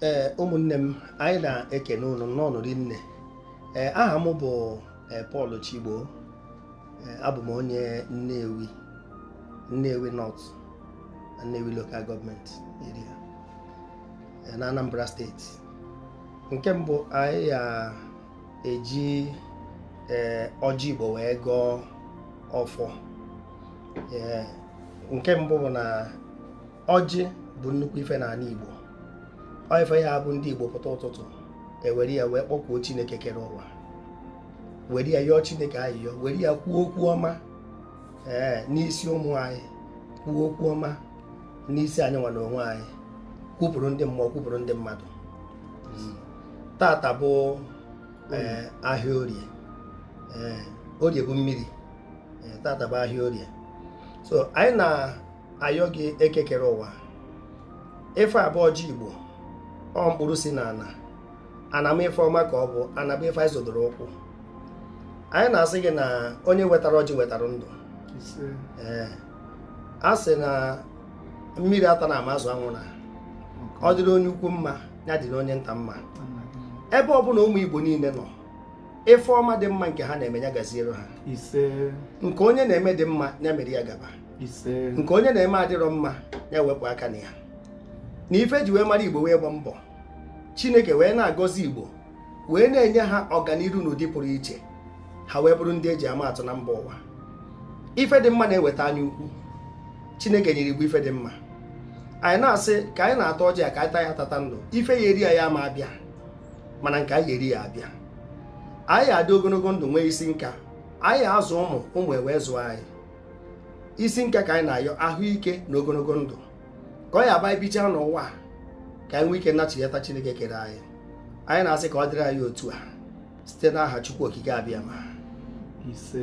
ee ụmụnne m anyị na-ekene ụnụ n'ọnọdụ nne ee aha m bụ e, Paul Chigbo e, abụ m onye Nnewi Nnewi North Nnewi Local Government Area e, na Anambra steeti nke mbụ anyị ya-eji ee ọjị Igbo wee gọọ ọfọ nke mbụ bụ na ọjị bụ nnukwu ife n'ana Igbo ọ ife ya-abụ ndị Igbo pụta ụtụtụ e were ya wee kpọkuo Chineke kere ụwa were ya yọọ Chineke ayịyọ were ya kwuo okwu ọma ee n'isi ụmụ anyị kwuo okwu ọma n'isi anyị nwa n'onwe anyị kwupụrụ ndị mmụọ kwupụrụ ndị mmadụ hmm. tata bụ eh, ahịa orie eh, orie bụ mmiri eh, tata bụ ahịa orie so anyị na ayọ gị Eke kere ụwa ife a bụ ọjị igbo ọ mkpụrụ si na ana na-amị ife ọma ka ọ bụ ana bụ ife anyị zọdoro ụkwụ anyị na-asị gị na onye wetara ọjị wetara ndụ ee a sị na mmiri atana ma azụ anwụna ọ dịrị onye ukwu mma ya dịrị onye nta mma ebe ọ bụna ụmụ igbo niile nọ ife ọma dị mma nke ha na-eme ya gaziere ha nke onye na-eme dị mma ya mere ya gaba nke onye na-eme adịrọ mma ya wepụ aka na ya na ife e ji wee mara igbo bụ ịgba mbọ chineke wee na-agọzi igbo wee na-enye ha ọganiru n'ụdị pụrụ iche ha wee bụrụ ndị e ji ama atụ na mba ụwa ife dị mma na-eweta anya ukwu chineke nyere igbo ife dị mma anyị na-asị ka anyị na-ata ọjị a ka anyị taa ya tata ndụ ife ya-eri anyị ama abịa mana nke anyị ya-eri ya-abịa anyị ya-adị ogonogo ndụ nwee isi nka anyị ya-azụ ụmụ ụmụ ewee zụọ anyị isi nka ka anyị na-ayọ ahụike na ogonogo ndụ ka ọ ya-abụ anyị bichaa n'ụwa a, ka anyị nwee ike nachighata chineke kere anyị anyị na-asị ka ọ dịrị anyị otu a site n'aha chukwu okike abịama ise